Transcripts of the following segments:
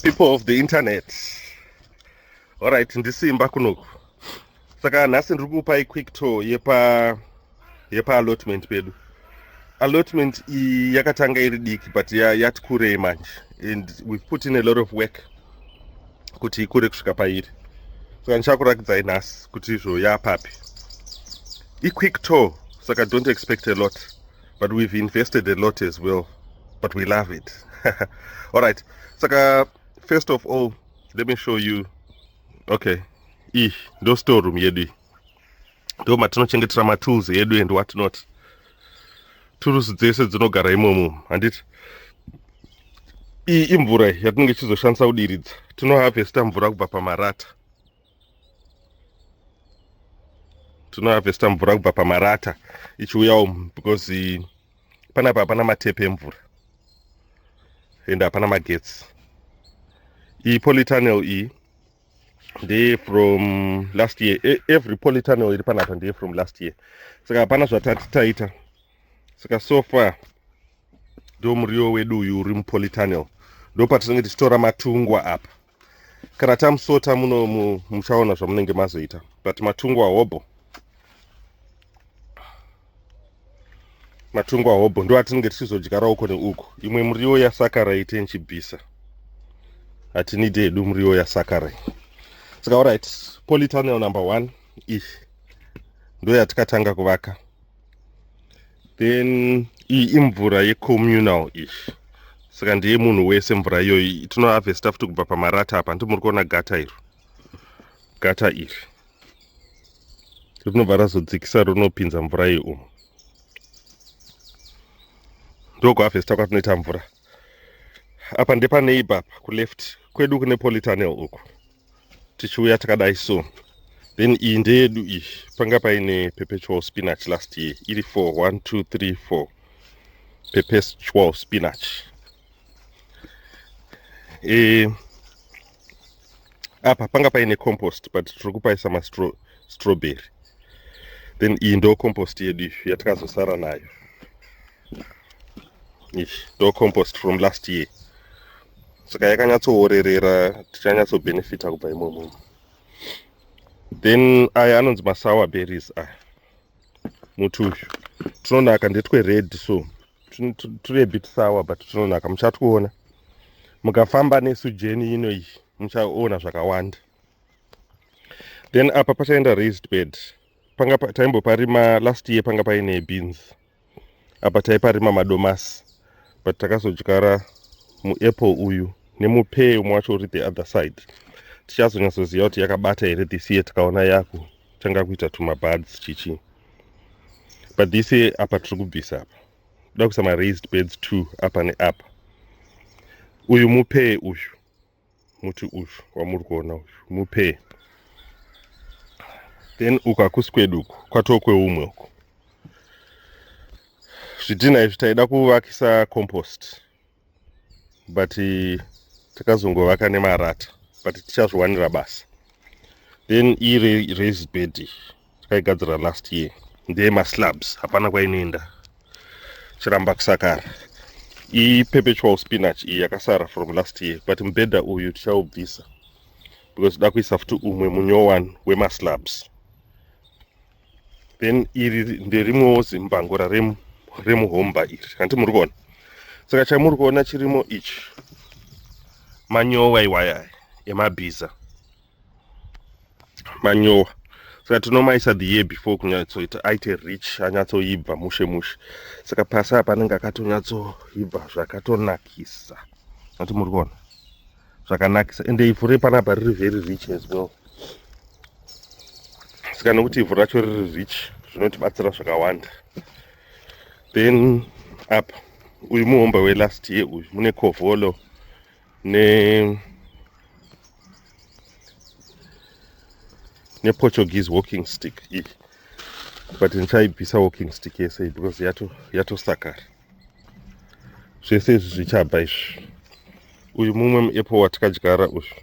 people of the internet alright ndisimba kunoku saka nhasi ndiri kupai quick tour yepa yepa allotment pedu allotment iyi yakatanga iri diki but yati kurei manje and we've put in a lot of work kuti ikure kusvika pairi saka ndichakuratidzai nhasi kuti izvo yapapi iquick tour saka don't expect a lot but we've invested a lot as well but we love it all right saka first of all let me show you okay iyi ndo storeroom yedu iyi ndo matinochengetera matools edu and what not turusi dzese dzinogara imomo handiti iyi imvura yatinenge tichizoshandisa kudiridza tinoharvesta mvura kubva pamarata tinoharvesta mvura kubva pamarata ichiuyawo because panapa hapana matepe emvura ende hapana magetsi iyi polytunnel iyi ndeye from last year e, every politano iri panapa ndeye from last year saka hapana zvatati taita saka so far ndo muriwo wedu uyu uri mupolitanel ndo patinenge tichitora matungwa apa kana tamusota muno muchaona zvamunenge mazoita but matungwa hobho matungwa hobho ndo atinenge tichizodyara uko neuko imwe muriwo yasakarai tenchibvisa hatinidi hedu muriwo yasakarai saka orit politunnel number one iyi ndo yatikatanga kuvaka then iyi imvura yecommunal iyi saka ndiye munhu wese mvura iyoyi tinoavesta futi kubva pamarata apa ndimuri kuona gata iro gata iri rinobva razodzikisa rinopinza mvura iyi umu ndokuhavhesta kwatinoita mvura apa ndepaneiba apa kuleft kwedu kune politanel uku tichiuya takadai so then iyi ndeyedu iyi panga paine perpetual spinach last year iri 4 1 2 3 4 perpetual spinach e, apa panga paine compost but tiri kupaisa mastrawberry then iyi ndo compost yedu izvi yatikazosara nayo izvi ndo compost from last year saka yakanyatsoorerera tichanyatsobhenefita kubva imomomo then aya anonzi masour berries aya muti uyu tunonaka ndetwe red so turi a bit sour but tunonaka muchatwuona mukafamba nesu jeni ino iyi muchaona zvakawanda then apa pachaenda raised bed panga taimboparima last year panga paine beans apa taiparima madomasi but takazodyara muapple uyu nemupee umwe wacho uri the other side tichazonyatsoziva kuti yakabata here this year tikaona yaku tanga kuita tumabuds chichi but this year apa tiri kubvisa apa toda kuisa maraised beds two apa neapa uyu mupee uyu muti uyu wamuri kuona uyu mupee then uku hakusi kwedu uku kwatoo kweumwe uku zvidhinha izvi taida kuvakisa compost but eh, takazongovaka nemarata but tichazviwanira basa then iri raise bed takaigadzira last year ndeye maslabs hapana kwainoenda chiramba kusakara iyi perpetual spinach iyi yakasara from last year but mubhedha uyu tichaubvisa because da kuisa futi umwe munyowani wemaslabs then iri nderimwewo zimbango raremu remuhomba iri hanti muri kuona saka chamuri kuona chirimo ichi manyowa iwaya emabhiza manyowa saka tinomaisa the year before kunyatsoita aite rich anyatsoibva mushe mushe saka pasi apa anenge akatonyatsoibva zvakatonakisa ati muri kuona zvakanakisa ende ivhu repanapa riri very rich as well saka nekuti ivhu racho riri rich zvinotibatsira zvakawanda then apa uyu muhombe welast year uyu mune kovholo ne neportuguese walking stick iyi but ndichaibvisa walking stick yese because yatosakara yato zvese izvi zvichabva izvi uyu mumwe muapple watikadyara uyu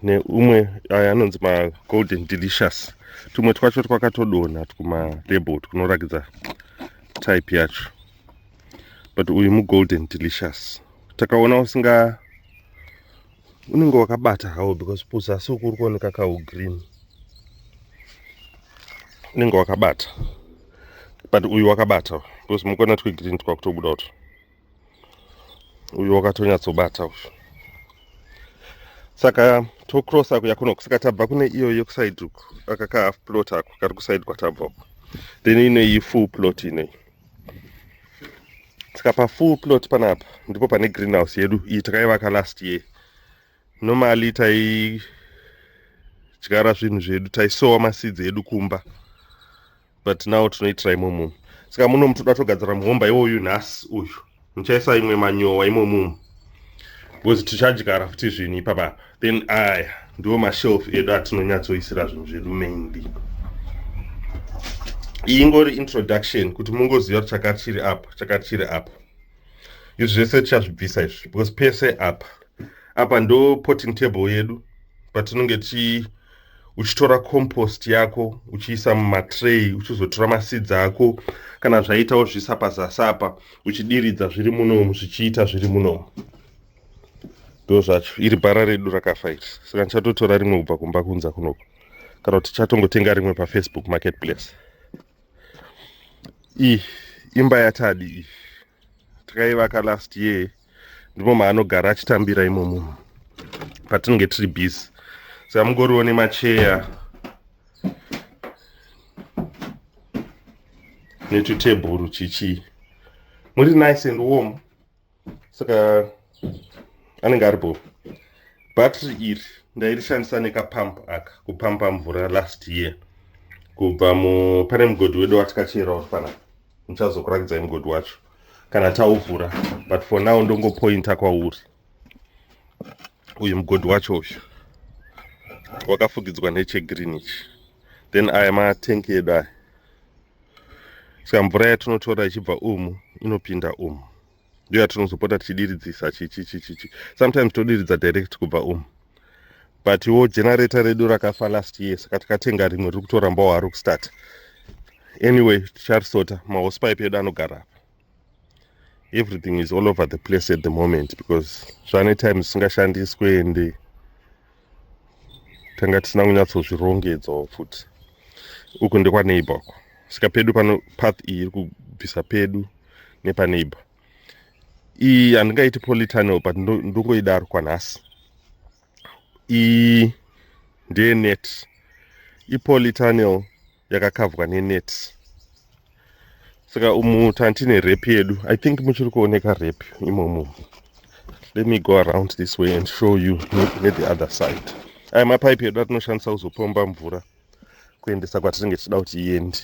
neumwe aya anonzi magolden delicious tumwe twacho twakatodonha twumalabel twunorakidza type yacho but uyu mugolden delicious takaona usinga unenge wakabata hawo because puzasi uku uri kuoneka kahu green unenge wakabata but uyu wakabata because mukona twegreen twakutobuda uto uyu wakatonyatsobata uyu saka tocross ako yakuno kusaka tabva kune iyo yekuside uku aka ka half plot ako kari kuside kwatabva uku then ine iyi full plot inei saka pafull plot panapa ndipo pane greenhouse yedu iyi takaivaka last year Normally taidyara zvinhu zvedu taisowa maseeds edu kumba but now tinoitira imomumu saka muno mutoda togadzira muhomba iwoyu nhasi uyu muchaisa imwe manyowa imomumu because tichadyara futi zvinhu ipapa then aya ndiwo mashelf edu atinonyatsoisira zvinhu zvedu mainly iyi ingori introduction kuti mungoziva kuti chakati chiri apa chakati chiri apa izvi zvese tichazvibvisa izvi because pese apa apa ndo potting table yedu patinonge ti uchitora compost yako uchiisa mumatray uchizotora maseeds ako kana zvaita wozviisa pazasi apa uchidiridza zviri munomu zvichiita zviri munomu ndo zvacho iri bhara redu rakafa iri saka ndichatotora rimwe kubva kumba kunza kunoko kana kuti tichatongotenga rimwe pafacebook marketplace iyi imba yatadi iyi takaivaka last year ndimo maanogara achitambira imo munhu patinenge tiri busy saka mungoriwo nemacheya netutebhuru chichii muri nice and warm saka anenge ari bho battery iri ndairishandisa nekapamp aka kupampa mvura last year kubva mu pane mugodhi wedu watikachera uri pana muchazokurakidzai mugodhi wacho kana tauvhura but for now ndongopointa kwauri uyu mugodhi wacho uyu wakafugidzwa nechegreen ichi then aya matenki edu aya saka mvura yatinotora ichibva umu inopinda umu ndiyo yatinozopota tichidiridzisa chichichichichi sometimes todiridza direct kubva umu but wo generator redu rakafa last year saka tikatenga rimwe riri kutorambawo hari kustart anyway ticharisota mahosepipe edu anogara apa everything is all over the place at the moment because zvane time zvisingashandiswe ende tanga tisina kunyatsozvirongedzawo futi uku ndekwaneighbor uko saka pedu pano path iyi iri kubvisa pedu nepaneighbor iyi handingaiti politunnel but ndongoidaro kwanhasi iyi ndeyenet ipolitunnel yakakavwa nenet saka umu tantine rep yedu i think muchiri kuoneka rep imomo let me go around this way and show you ne the other side aya mapaipi edu atinoshandisa kuzopomba mvura kuendesa kwatinenge tichida kuti iende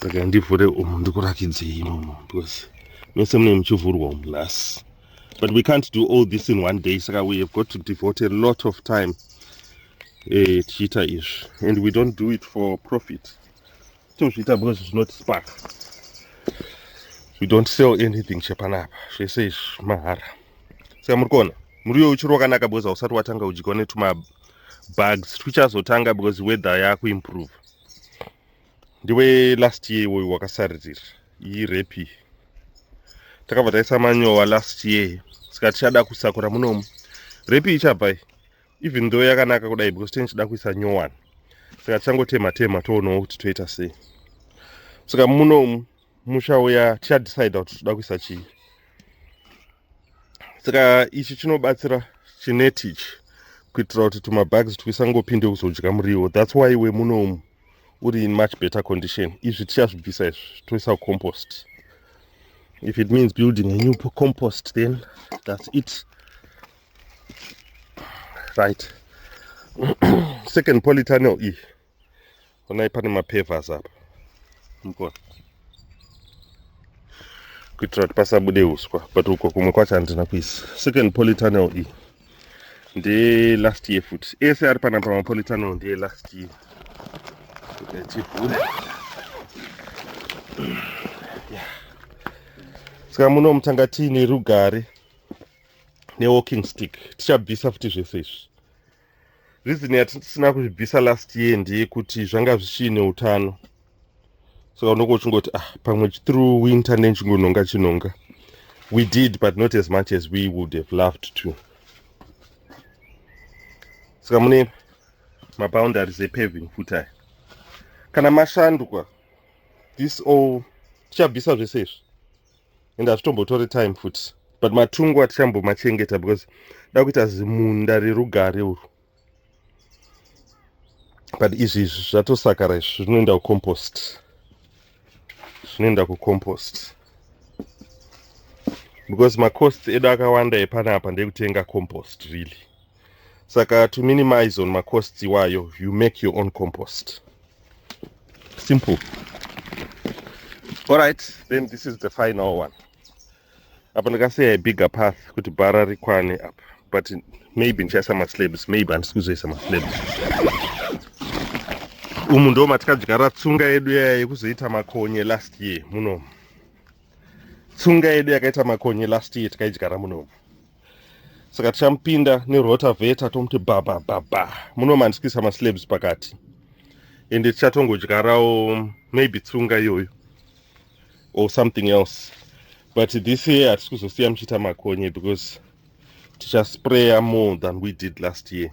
Saka ndivhure umu ndikurakidzei imomo because mese mune muchivhurwa umu las but we can't do all this in one day saka we have got to devote a lot of time eh, tichiita izvi and we don't do it for profit tozviita because zvinotispark we don't sell anything chepanapa zvese izvi mahara saka muri kuona muriyo uchiri wakanaka because hausati watanga udyiwa netumabugs twichazotanga because weather yakuimprove ndiwe last year iwoyo wakasaririra iyi repi takabva taisa manyowa last year saka tichada kusakura munomu repi ichabva even though yakanaka kudai because tene tichida kuisa new one saka tichangotema tema toonawo kuti toita sei saka munomu musha uya tichadecide kuti toda kuisa chii saka ichi chinobatsira chineti ichi kuitira kuti tumabags twisangopinde kuzodya muriwo thats why wemunomu uri in much better condition izvi tichazvibvisa izvi toisa kucompost if it means building a new compost then thats it right second polytunnel iyi e. onai pane mapavers apa mukona kuitira kuti pasabude uswa but uko kumwe kwacho handina kuisa second polytunnel iyi ndeye last year futi ese ari pana pamapolytunnel ndeye last year saka muno mutanga tiine rugare newalking stick tichabvisa futi zvese izvi reason yatisina kuzvibvisa last year ndeyekuti zvanga zvichiine utano saka unonge uchingoti ah pamwe through winter nenchingonhonga chinhonga we did but not as much as we would have loved to saka mune maboundaries epaving futi aya kana mashandwa this all tichabvisa zvese izvi and hazvitombotore time futi but matungu atichambomachengeta because da kuita zimunda rerugare uru but izvi izvi zvatosakara izvi zvinoenda kucompost zvinoenda kucompost because macost edu akawanda epanapa ndekutenga compost really saka to minimize on macosts iwayo you make your own compost simple alright then this is the final one apa ndakasiya ibigger path kuti bhara rikwane apa but maybe ndichaisa maslabs maybe handisi kuzoisa maslabs umu ndo matikadyara tsunga yedu yaya yekuzoita makonye last year munomu tsunga yedu yakaita makonye last year tikaidyara munomu saka tichamupinda nerotaveta tomuti babababa muno mandisikisa maslabs pakati ende tichatongodyarawo maybe tsunga iyoyo or something else but this year hatisi kuzosiya muchiita makonye because tichaspraya more than we did last year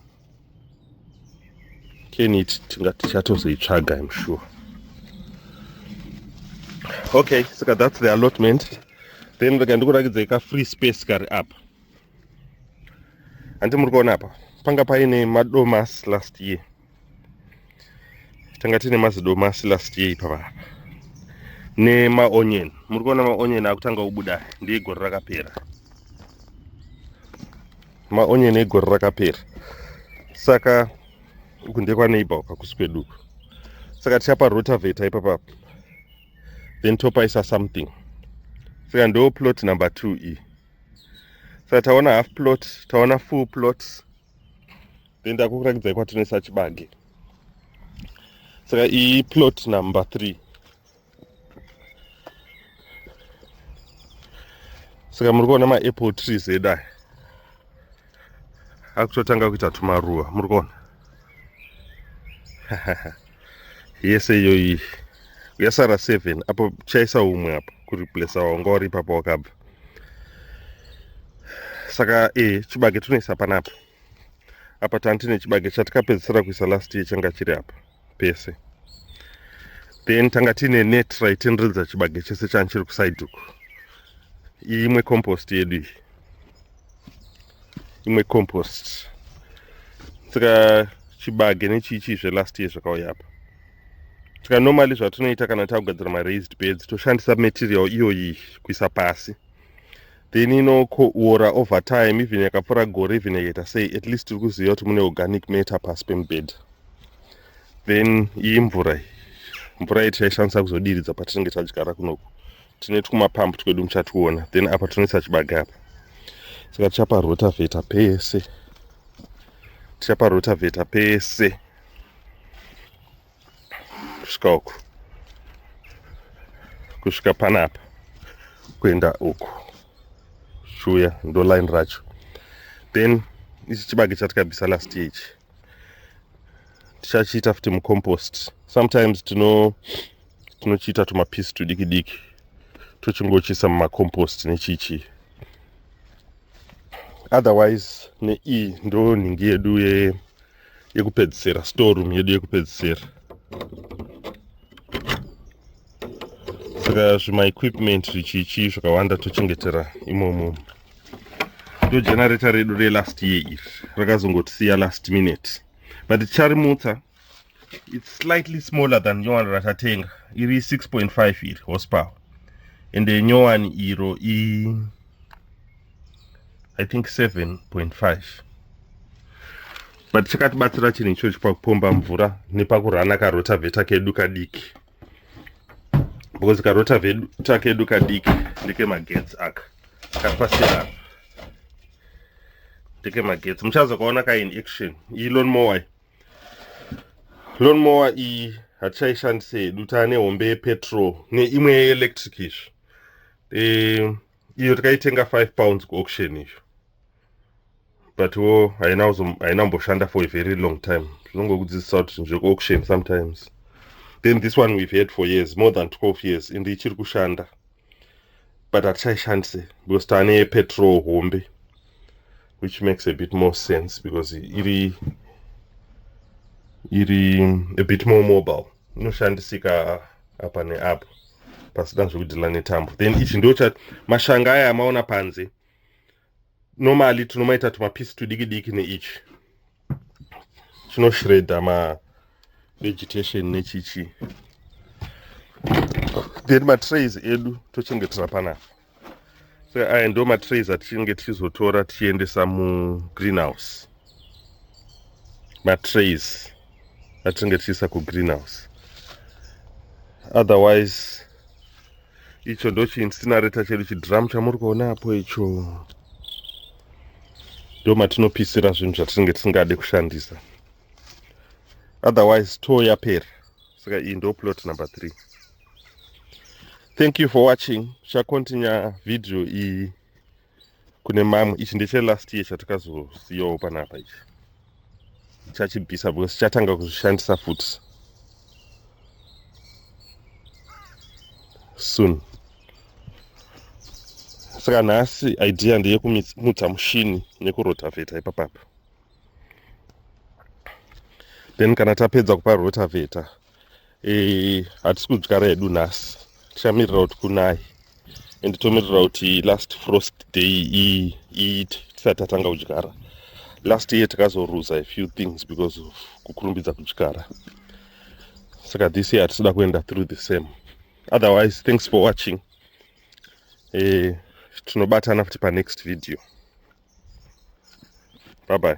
keniti tinga tichatozoitsvaga im sure okay saka that's the allotment then rega ndikurakidzai ka free space kari apa handi muri kuona apa panga paine madomas last year tanga tine mazidomas last year ipa vapa nemaonion muri kuona maonion akutanga kubuda ndeyegore rakapera maonyeni egore rakapera saka uku ndekwaneighbor uka kusi kwedu uku saka tichapa rotaveta ipapa then topaisa something saka ndo plot number two iyi saka taona half plot taona full plot then ndakukurakidzai kwatinoisa chibage saka iyi plot number three saka muri kuona maapple trees edu aya akutotanga kuita tumaruva muri kuona yese iyoyi yasara seven apo chaisa umwe apo kuriplesa wanga wari ipapo wakabva saka e chibage tunoisa panapa apa tantine chibage chatikapedzisira kuisa last year changa chiri apa pese then tanga tiine net raitenderedza chibage chese chani chiri kuside uku iyi imwe compost yedu iyi imwe compost saka chibage nechichii zvelast year zvakauya apa saka normally zvatinoita kana takugadzira maraised beds toshandisa material iyoyi kuisa pasi then inoora over time even yakapfura gore even yakaita sei at least tiri kuziva kuti mune organic matter pasi pemubhedha then iyi mvura iyi mvura iyi tichaishandisa kuzodiridza patinenge tadyara kunoku tine twumapampu twedu muchationa then apa tinoisa chibage apa saka tichapa rotavheta pese tichapa rotavheta pese kusvika uku kusvika panapa kuenda uku shuya ndo line racho then ichi chibage chatikabvisa last year ichi tichachiita futi mucompost sometimes tino tinochiita tumapiece tudiki diki tochingochiisa mumacompost nechichi otherwise neii ndo nhingi yedu ye yekupedzisira storeroom yedu yekupedzisira saka zvimaequipment zvichichii zvakawanda tochengetera imomo ndo generator redu relast year iri rakazongotisiya last minute but ticharimutsa it's slightly smaller than nyowani ratatenga iri 6.5 iri horsepower ende nyowani iro i i think 7.5 but chakatibatsira chinhu ichochi pakupomba mvura nepakurana karotavheta kedu kadiki because karotavheta kedu kadiki ndekemagetsi aka kapasirana ndekemagetsi muchazokaona ka in action iyi lon mower lon mower iyi hatichaishandise hedu taane hombe yepetrol neimwe yeelectric izvi um, iyo takaitenga 5 pounds kuauction iyo but wo haina kuzo- haina kumboshanda for a very long time tinongokudzidzisa kuti zvinhu zvekuauction sometimes then this one we've had for years more than 12 years and ichiri kushanda but hatichaishandise because tane petrol hombe which makes a bit more sense because iri iri a bit more mobile inoshandisika apa neapo pasina zvekudhila netambo then ichi ndocha mashanga aya amaona panze normally tinomaita tumapisi tudiki diki neichi chinoshreda ma vegetation nechichi then matrays edu tochengetera panapa saka aya ndo matrays atichinge tichizotora tichiendesa mugreenhouse matrays atinenge tichiisa kugreenhouse otherwise icho ndochiinsinareta chedu chidrum chamuri kuona apo icho ndo matinopisira zvinhu zvatinenge tisingade kushandisa otherwise too yapera saka iyi ndo plot number three thank you for watching tichakontinya video iyi kune mamwe ichi ndeche last year chatakazosiyawo panapa ichi chachibvisa because chatanga kuzvishandisa futi soon saka nhasi idea ndeyekumutsa mushini nekurotavheta ipapapa then kana tapedza kupa rotavheta eh, hatisi kudyara hedu nhasi tichamirira kuti kunai and tomirira kuti last frost day iite tisati tatanga kudyara last year takazoruza a few things because of kukurumbidza kudyara saka this year hatisida kuenda through the same otherwise thanks for watching eh, tinobatana futi panext video bye bye